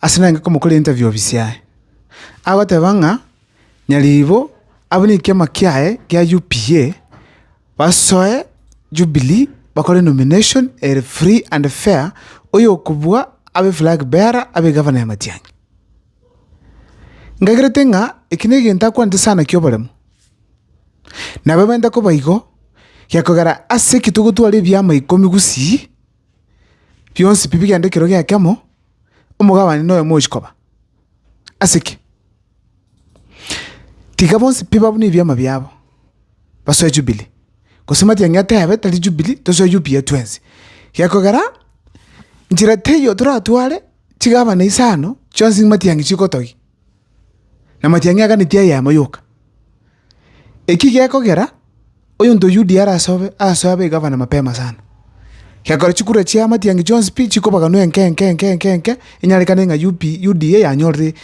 ase naye inga komokora interview ofisi yaye. Agoteba ng'a nyaribo abwo ne ekiama kiaye kia UPA basoe Jubilee bakore nomination ere free and fair oyokobua abe flag bearer abe egavana ya Matiang'i. Nkagerete ng'a eki na egento akwanete sana kia oboremu. Nabo ebenta koba igo, gekogera ase ekio togotwara ebiama ikomi gusii. bionsi pi bigende ekero gi'ekemo, omogabani noyomo ochia koba. Ase ki? Tiga bonsi pi babune ebiama biabo, basoe Jubilee, gose matiang'i atebe tari Jubilee, tosoe UPA twensi. Gekogera, nchera teiyo toratware chigabana isano chionsi matiang'i chigotogia, na matiang'i aganeti eyemo yoka. Eki gekogera, oyonto o Yudia arasobe asoe abe egavana mapema sana. Gekora chikura chia amatiangi chionsi pi chikobaganwa enke enke enke enke enke, enyarekane ng'a UP Yudia yanyorire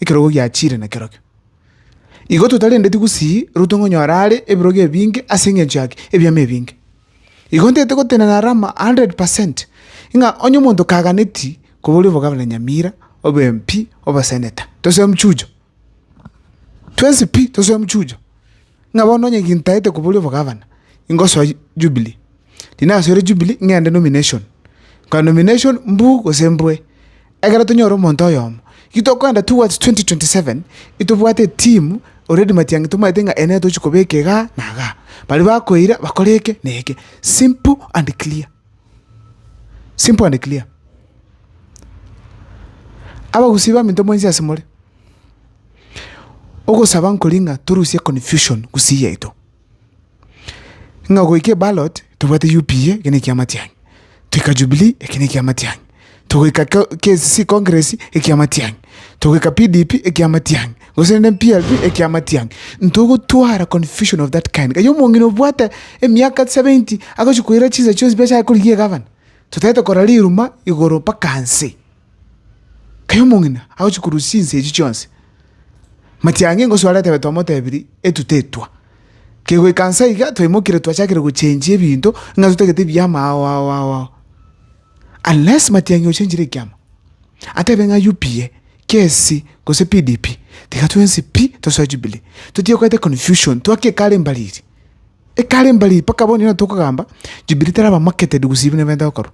ekerogo giachire na kerokio. Igo totarendeti gusii rutwe ng'onyora are ebirogo ebinge ase engencho yaki ebiama ebinge. Igo ntete gotenena Rama a hundred percent, ng'a onye omonto kaganeti koboria obogavana Nyamira, obwe MP, oboseneta, tose mchujo. Twensi pi, tosoe mochiucha, ng'a bono onye gintaete koboria obogavana, ingosoa Jubilee. Riria nasoire Jubilee, ng'ende nomination, korwa nomination mbu gose mbwe. Ekero tonyore omonto oyomo, ki tokoenda towards twenty twenty seven, itobwate etimu already matiang'i tomaete ng'a eye nere tochi kobeka igaa na igaa. Baria bakoira bakore eke na eke, simple and clear. Simple and clear. Abagusii baminto mwensi ase more, ogosaba nkoria ng'a torusie confusion gusii yaito, ng'a goika eballot tobwate UPA, eke nekiamatiang'i, toika Jubilee, eke nekiamatiang'i. togoika KCC Congress ekia amatiang'i, togoika PDP ekia amatiang'i, gose rende PLP ekia amatiang'i, ntogotwara confusion of that kind. Gaki omong'ina obwate emiaka seventy agochia koira chinsa chionsi pi ase akorigia egavana, totaete korora riruma igoro mpaka nse. Kai omong'ina agochia korusia chinsa echio chionsi, matiang'i ngosoa are atebe twamotebirie etuto etwa. Kegoika nsa iga twaimokirie twachakire gochengia ebinto ng'a totagete ebiya amao ao ao ao. Unless Matiang'i ochenchire ekiama, atebe ng'a UPA, KSC gose PDP, tiga twensi pi tosoe Jubilee. Totige koeta confusion, twake ekare embariri. Ekare embariri mpaka bono nigo tokogamba Jubilee teraba marketed gose ebi neberenta gokorwa.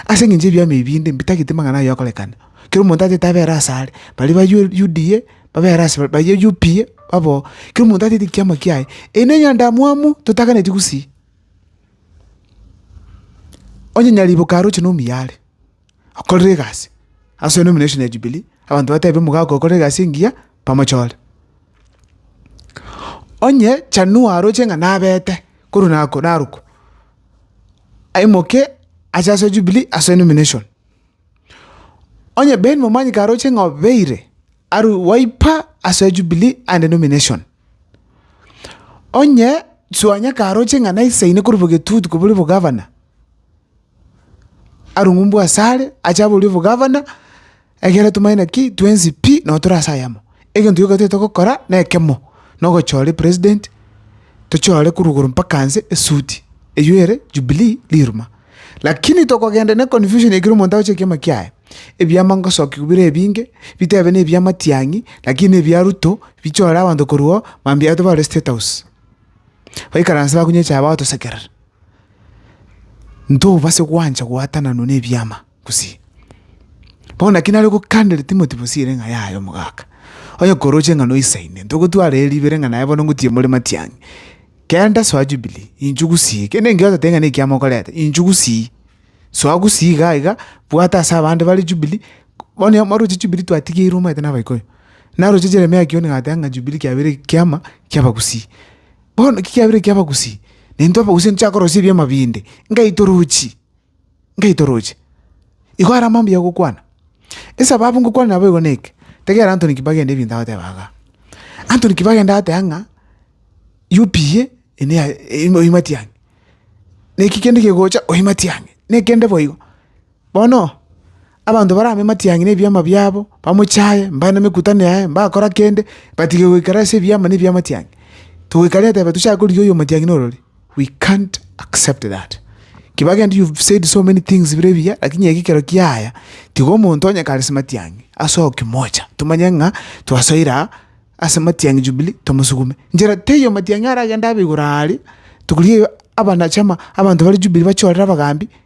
Ase engencho ebiama ebi binde mbitagete amang'ana ayio akorekane. Kera omonto atete abere ase are, baria ba UDA babere ase bare, baria UPA babe oo. Kera omonto atete ekiama kiaye, eyi ne enyandamwamu totaganeti gusii. Onye nyariboka aroche nomuya are, akorere egasi, ase eye nomination ya Jubilee, abanto batebe omogaka okore egasi engiya, bamochore. Onye chanua aroche ng'a nabete korwa nako narokwa, aimoke ache ase Jubilee ase nomination. Onye Ben momanyi karoche ng'a obeire are waipa ase Jubilee and nomination. Onye Suanya karoche ng'a naisaine korwa bogetutu koboria obogavana, arung'umbwe asare ache aborie obogavana, ekiagera tomanyeti naki twensi pi nabo tore ase ayemo. Egento gioka toigete togokora na ekemo, na ogochora epresident, tochore korwa igoro mpaka nse esuti. Eyio ere Jubilee riruma. Lakini tokogenda ne confusion ekero omonto agochia ekiama kiaye, ebiama ngosokigwa bire ebinge, bitebe nebia matiang'i, lakini ebia Ruto bichore abanto korwa oo, mambia abanto bare state house, baikaranse bakunywe echae bagotosekerera. Ntobase gwancha gwatananwa nebiama. gusii. Bono naki nare gokandere Timoti bosii ere ng'a yaye omogaka, onye koroche ng'a noisaine, ntogotwara ere ribere ng'a naye bono ngotiye more matiang'i. Kera ndasoa Jubilii, inchuo gusii, kende engiya otateba ng'a nekiama okoreta, inchuo gusii. Soa gusii igaa igaa, bwata ase abande bare Jubilii, bono onye mwaroche Jubilii twatigeirwe omanyete na Abaikuyu. Naroche Jeremia kioni agateba ng'a Jubilii kiabeire ekiama kia abagusii. Bono ki kiabeire ekiabagusii? Naintwe abagusii nigo tochia korosia ebiama binde, ngai torochie. ngeitoroche. Igo are amambuya agokwana. Esababu ngokwana nabo igo neke, tegera Anthony kibagenda ebinto agoteba igaa. Anthony kibagenda agotea ng'a UPA ene ya oimati ang'e, na eki kende kegocha oimati ang'e, na ekende boigo. Bono Abanto barame matiang'i nebiama biabo, bamochaye, mbare nemekutano yaye, mbakora kende, batige goikara ase ebiama ne ebiamatiang'i. Togoika rero etebe tochake korigia oyo omatiang'i norori. We can't accept that. Kibagenda you've said so many things bire ebiya lakini eke ekero kiaya, tiga omonto onye kare ase matiang'i asoe okimocha, tomanye ng'a twasoire aa ase matiang'i Jubilee tomosugume. Nchera teiyo matiang'i aragende abe igoro aria, tokorigia abana chama abanto bare Jubilee bachorere abagambi.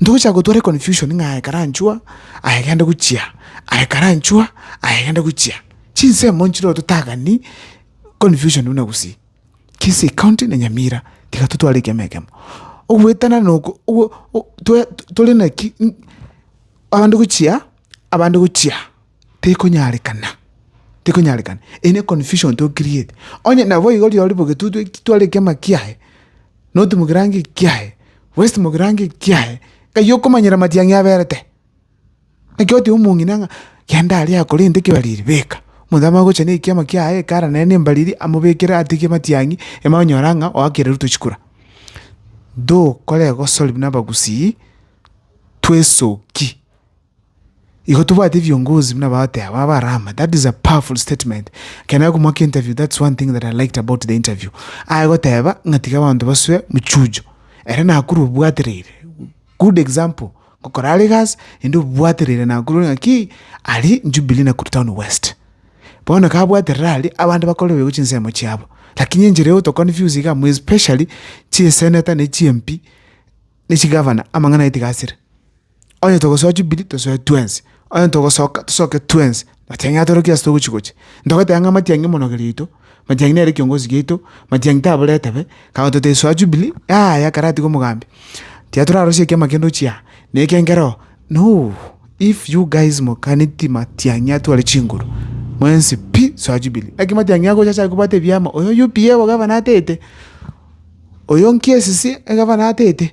Ntogochaka gotwara econfusion ng'a aye karanchwa, aye gende gochia, aye karanchwa, aye gende gochia. Chinsemo nchireo totagani confusion buna gusii. Kisii county na Nyamira tiga totware ekemo ekemo. Ogoetana noko twe tore naki abande gochia, abande gochia, tekonyarekana, tekonyarekana. Eye ne confusion to create. Onye nabo igo riria ore bogetutwe, tware ekema kiaye. notimokera ango ekiaye, bwesimokera ango ekiaye, ng'ai okomanyera amatiang'i aberete? Naki oteba omong'ina ng'a genda aria akorente ekebariri beka, omonto amanye gocha na ekiama kiaye ekara nere na embariri amobekere atigie amatiang'i, ime onyore ng'a oakire ruto chikura. Tokore egosori buna abagusii, twesoki. Igo tobwate ebiongozi buna bagotea abwo abarama that is a powerful statement ekero nare komoaka interview that's one thing that I liked about the interview aye goteba ng'a tiga abanto basoe mochujo ere nakorwa obwatereire good example ngokora are egasi ende obwatereire nakorwa ng'a ki aria Jubilee Nakuru town west bono ekero abwaterire aria abande bakore boigo chinsemo chiabo lakini enchera egoto to confuse iga more especially chisenator na chi MP na chigavana amang'ana aye tiga asire. Onye togosoa Jubili, tosoe twensi, onye togosoka, tosoke twensi, matiang'i atorokie ase togochi gocha. Ntogoteba ng'a matiang'i emonogerio yaito, matiang'i nere ekiongozi giaito, matiang'i tabore etebe, kagoto totesoa Jubili, yaya ekero atigwe mogambi, tiga torarosie ekiama kende ochia aa, na eke nkere oo, no, if you guys moganeti matiang'i atware chinguru, mwensi pi, soa Jubili. Naki matiang'i agocha acha kobwate ebiama, oyo UPA obogavana atete, oyo nki esisi egavana atete.